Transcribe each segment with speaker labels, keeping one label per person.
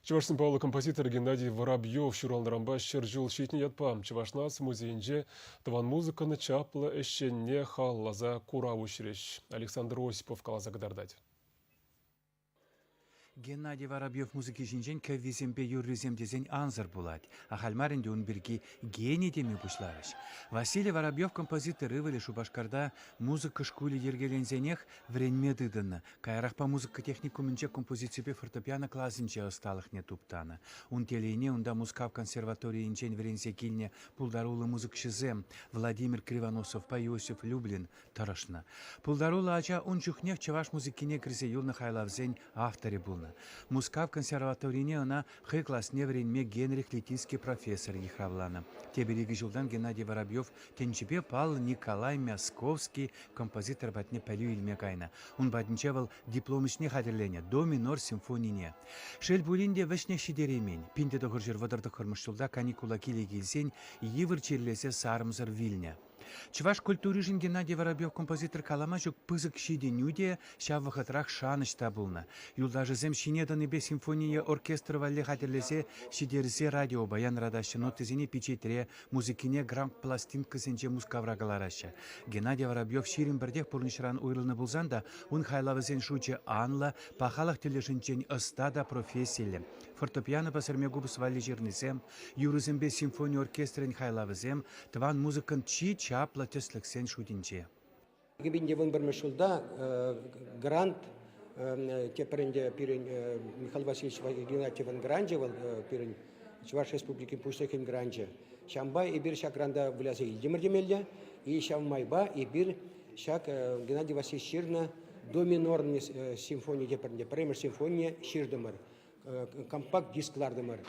Speaker 1: Чӑвашсен паллӑ композиторӗ Геннадий Воробьев ҫуралнӑранпа ҫӗр ҫул ҫитнӗ ятпа Чӑваш наци музейӗнче тӑван музыкӑн чаплӑ ӗҫченне халалласа курав уҫрӗҫ. Александр Осипов каласа кӑтартать.
Speaker 2: Геннадий Воробьев музыки ҫинчен кӗввисемпе юррисем тесен ансӑр пулать. Ахаль мар ӗнтӗ ун пирки гени теме пуҫларӗҫ. Василий Воробьев композитор ывӑлӗ Шупашкарта музыка шкулӗ йӗркеленсенех вӗренме тытӑннӑ. Каярахпа музыка техникумӗнче композиципе фортепиано класӗнче ӑсталӑхне туптанӑ. Ун телейне унта Мускав консерваторийӗнчен вӗренсе килнӗ пултаруллӑ музыкҫӑсем Владимир Кривоносовпа Иосиф Люблин тӑрӑшнӑ. Пултаруллӑ ача ун чухнех чӑваш музыкине кӗрсе юлнӑ хайлавсен авторӗ пулнӑ. Мускав консерваторине ӑна Хӑй класне вӗренме Генрих Литийский профессор йыхравланӑ. Тепӗр икӗ ҫултан Геннадий Воробьев тӗнчипе паллӑ Николай Мясковский композитор патне пӗлӳ илме кайнӑ. Ун патӗнче вӑл диплом ӗҫне хатӗрленӗ До минор симфонине. Шел пулин те, вӗҫнех ҫитереймен. Пин те тӑхӑр ҫӗр вӑтӑр тӑххӑрмӗш ҫулта каникула киле килсен йывӑр чирлесе сарӑмсӑр вилнӗ. Чӑваш культуришӗн Геннадий Воробьев композитор калама ҫук пысӑк ҫитӗнӳ те ҫав вӑхӑтрах шанӑҫ та пулнӑ. Юлташӗсем ҫине тӑнипе симфоние оркестр валли хатӗрлесе ҫитерсе радиопа янратаҫҫӗ, нотисене пичетре, музыкине грант-пластинкӑсенче Мускавра кӑлараҫҫӗ. Геннадий Воробьев ҫирӗм пӗртех пурнӑҫран уйрӑлнӑ пулсан та ун хайлавӗсен шучӗ анлӑ, пахалӑх тӗлӗшӗнчен ӑста та профессиллӗ. Фортепьянопа сӗрме купӑс валли ҫырнисем, юрӑсемпе симфони оркестрӗн хайлавӗсем тӑван музыкӑн чи чаплӑ тӗслӗхсен шутӗнче. Кӗпин йӑвын
Speaker 3: пӗрмӗш ҫулта грант тепӗр ӗнтӗ пирӗн Михаил Васильевич Геннадьевӑн гранчӗ вӑл пирӗн Чӑваш Республикин Пуҫлӑхӗн гранчӗ. Ҫавӑнпа эпир ҫак гранта выляса илтӗмӗр темелле, и ҫав майпа эпир ҫак Геннадий Васильевич ҫырнӑ До минорный симфони тепӗр ӗнтӗ пӗрремӗш симфонине ҫыртӑмӑр. компакт диск лартӑмӑр.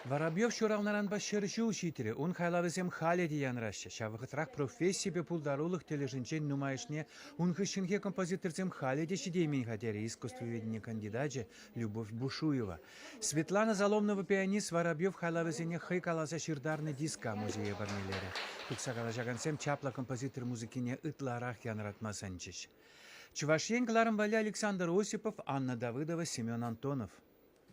Speaker 3: Воробьев
Speaker 2: ҫуралнӑранпа ҫӗр ҫул ҫитрӗ. Ун хайлавӗсем халӗ те янраҫҫӗ. Ҫав вӑхӑтрах профессипе пултарулӑх тӗлӗшӗнчен нумайӑшне ун хыҫҫӑнхи композиторсем халӗ те ҫитеймен-ха, терӗ искусствоведени кандидачӗ Любовь Бушуева. Светлана Заломнова пианист Воробьев хайлавӗсене хӑй каласа ҫыртарнӑ диска музее парнелерӗ. Тухса калаҫакансем чаплӑ композитор музыкине ытларах янратма сӗнчӗҫ. Чӑваш Ен кӑларӑм валли Александр Осипов, Анна Давыдова, Семен Антонов.